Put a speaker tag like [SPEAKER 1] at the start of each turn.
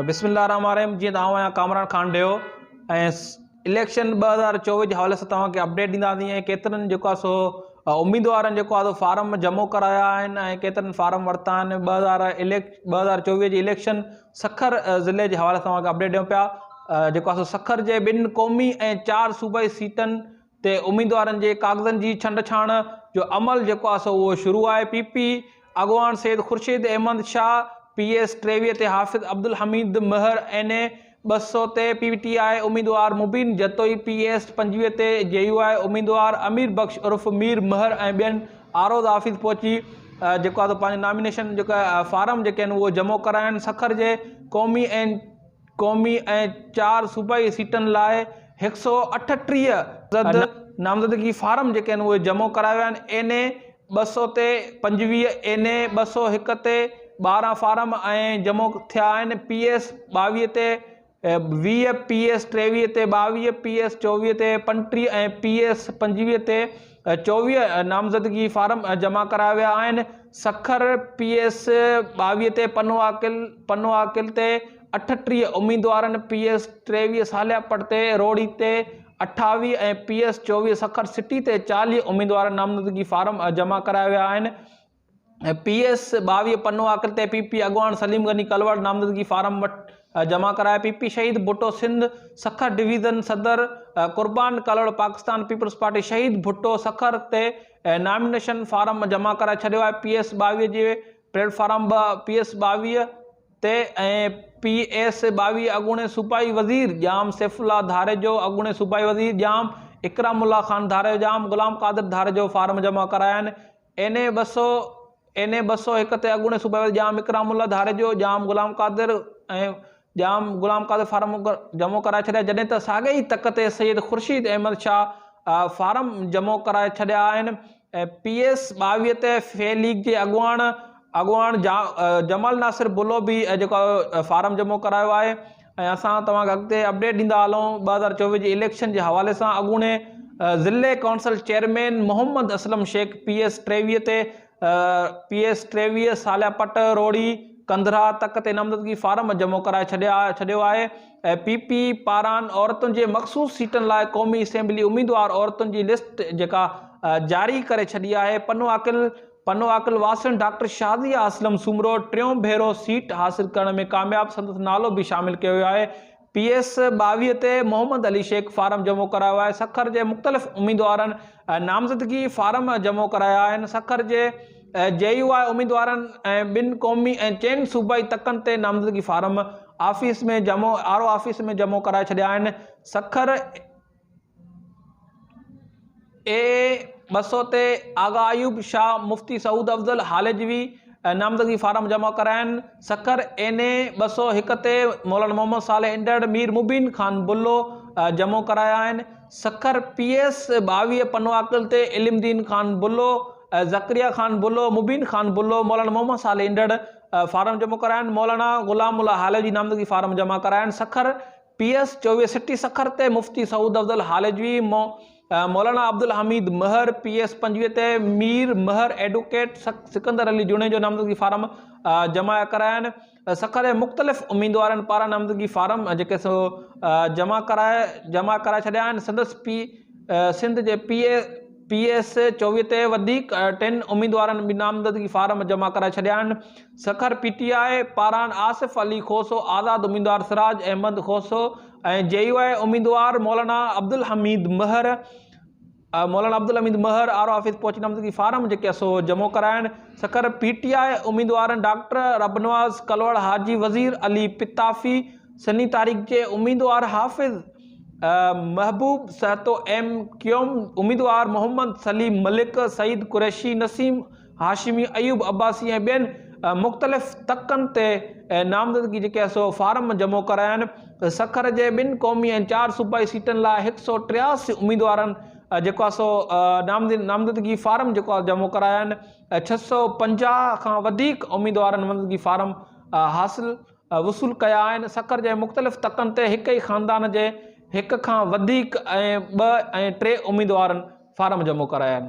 [SPEAKER 1] بسم الله الرحمن الرحيم جيئن ته آئون آهيان ڪامران خان ڊيو ۽ اليڪشن ٻه هزار چوويهه جي حوالي سان توهان کي اپڊيٽ ڏينداسين ۽ ڪيترن جيڪو سو اميدوارن جيڪو آهي فارم جمع ڪرايا آهن ۽ ڪيترن فارم ورتا آهن ٻه هزار اليڪ ٻه هزار چوويهه جي اليڪشن سکر ضلعي جي حوالي سان توهان کي اپڊيٽ ڏيون پيا جيڪو سکر جي ٻن قومي ۽ چار صوبائي سيٽن تي اميدوارن جي ڪاغذن جي ڇنڊ ڇاڻ جو عمل جيڪو آهي سو اهو شروع آهي، پي پي اڳواڻ سيد خورشيد احمد شاهه پي ايس ٽيويهه تي حافظ عبدالحميد مهر اين اي ٻه سؤ تي پي ٽي آء اميدوار مبين جتوئي پي ايس پنجويهه تي جي يو آء اميدوار امير بخش عرف مير مهر ۽ ٻين آروز آفيس پهچي جيڪو آهي سو پنهنجو نامينيشن جيڪو آهي فارم جيڪي آهن اهو جمع ڪرايا آهن سکر جي قومي اين قومي ۽ چار صوبائي سيٽن لاء هڪ سؤ اٺٽيهه زد نامزدگي فارم جيڪي آهن اهي جمع ڪرايا ويا آهن اين اي ٻه سؤ تي پنجويهه اين اي ٻه سؤ هڪ تي ٻارهن فارم ائين جمع ٿيا آهن پي ايس ٻاويهه تي ويهه پي ايس ٽيويهه تي ٻاويهه پي ايس چوويهه تي پنٽيهه ۽ پي ايس پنجويهه تي چوويهه نامزدگي فارم جمع ڪرايا ويا آهن، سکر پي ايس ٻاويهه تي پنو عاقل، پنو عاقل تي اٺٽيهه اميدوارن، پي ايس ٽيويهه صالح پٽ تي روهڙي تي اٺاويهه ۽ پي ايس چوويهه سکر سٽي تي چاليهه اميدوارن نامزدگي فارم جمع ڪرايا ويا آهن. پي ايس ٻاويهه پنو آڪرت ۽ پي پي اڳواڻ سليم غني ڪلواڙ نامزدگي فارم وٽ جمع ڪرايا پي پي شهيد ڀٽو سنڌ سکر ڊويزن صدر قربان ڪلهوڙ پاڪستان پيپلز پارٽي شهيد ڀٽو سکر تي نامينيشن فارم جمع ڪرائي ڇڏيو آهي پي ايس ٻاويهه جي پليٽ فارم به پي ايس ٻاويهه تي ۽ پي ايس ٻاويهه اڳوڻي صوبائي وزير ڄام سيف الله ڌاريجو اڳوڻي صوبائي وزير ڄام اڪرام الله خان ڌاريجو ڄام غلام قادر ڌاريجو فارم جمع ڪرايا آهن اين اي ٻه سؤ، اين اي ٻه سؤ هڪ تي اڳوڻي صوبائي وزير ڄام اڪرام الله ڌاريجو، ڄام غلام قادر ۽ ڄام غلام قادر فارم جمع ڪرائي ڇڏيا جڏهن ته ساڳئي ئي تڪ تي سيد خورشيد احمد شاهه فارم جمع ڪرائي ڇڏيا آهن ۽ پي ايس ٻاويهه تي ف ليگ جي اڳواڻ اڳواڻ جمال ناصر بلو به جيڪو فارم جمع ڪرايو آهي. ۽ اسان توهان کي اڳتي اپڊيٽ ڏيندا هلون ٻه هزار چوويهه جي اليڪشن جي حوالي سان اڳوڻي ضلعي council chairman Muhammad Aslam Shaikh P S ٽيويهه تي پي ايس ٽيويهه ساليا پٽ روھڙي ڪنڌرا تڪ تي نامزدگي فارم جمع ڪرائي ڇڏيو آهي پي پي پاران عورتن جي مخصوص سيٽن لاء قومي اسيمبلي اميدوار عورتن جي لسٽ جيڪا جاري ڪري ڇڏي آهي پنو عاقل پنو عاقل واسڻ ڊاڪٽر شازيه اسلم سومرو ٽيون ڀيرو سيٽ حاصل ڪرڻ ۾ ڪامياب سندس نالو به شامل ڪيو ويو آهي پي ايس ٻاويهه تي محمد علي شيخ فارم جمع ڪرايو آهي سکر جي مختلف اميدوارن نامزدگي فارم جمع ڪرايا آهن سکر جي جي يو آء اميدوارن ۽ ٻن قومي ۽ چئن صوبائي تڪن تي نامزدگي فارم آفيس ۾ جمع آر او آفيس ۾ جمع ڪرائي ڇڏيا آهن سکر اي ٻه سؤ تي آغا ايوب شاهه مفتي سعود افضل هالجوي نامزدگي فارم جمع ڪراين، سکر اين اي ٻه سؤ هڪ تي مولانا محمد صالح انڊڙ مير مبين خان بلو جمع ڪرايا آهن، سکر پي ايس ٻاويهه پنواڪل تي علم دين خان بلو، ذڪريا خان بلو، مبين خان بلو، مولانا محمد صالح انڊڙ فارم جمع ڪرايا آهن، مولانا غلام الله هالجوي نامزدگي فارم جمع ڪرايا آهن، سکر پي ايس چويهه سٽي سکر تي مفتي سعود افضل هالجوي، مولانا عبدالحميد مهر، پي ايس پنجويهه تي مير مهر، ايڊوڪيٽ سڪندر علي جوڻيجو نامزدگي فارم جمع ڪراين سکر جي مختلف اميدوارن پاران نامزدگي فارم جيڪي سو جمع ڪرائي جمع ڪرائي ڇڏيا آهن سندس پي سنڌ جي پي اي پي ايس چويهه تي وڌيڪ ٽن اميدوارن به نامزدگي فارم جمع ڪرائي ڇڏيا آهن سکر، پي ٽي آء، پاران آصف علي کوسو، آزاد اميدوار سراج احمد کوسو ۽ جي يو آء اميدوار Maulana Abdul Hamid Mahar Maulana Abdul Hamid Mahar R O office پهچي نامزدگي فارم جيڪي سو جمع ڪراين. سکر، پي ٽي آء اميدوارن ڊاڪٽر ربنواز ڪلوڙ، حاجي وزير علي پتافي، سني تحريڪ جي اميدوار حافظ محبوب سهتو، ايم ڪيوم اميدوار محمد سليم ملڪ، سعيد قريشي، نسيم. هاشمي، ايوب عباسي ۽ ٻين مختلف تڪن تي نامزدگي جيڪي آهي سو فارم جمع ڪرايا آهن، سکر جي ٻن قومي ۽ چار صوبائي سيٽن لاء هڪ سؤ ٽياسي اميدوارن جيڪو آهي سو نامزدگي فارم جيڪو آهي جمع ڪرايا آهن، ڇهه سؤ پنجاهه کان وڌيڪ اميدوارن نامزدگي فارم حاصل وصول ڪيا آهن، سکر جي مختلف تڪن تي هڪ ئي خاندان جي هڪ کان وڌيڪ ۽ ٻه ۽ ٽي اميدوارن فارم جمع ڪرايا آهن.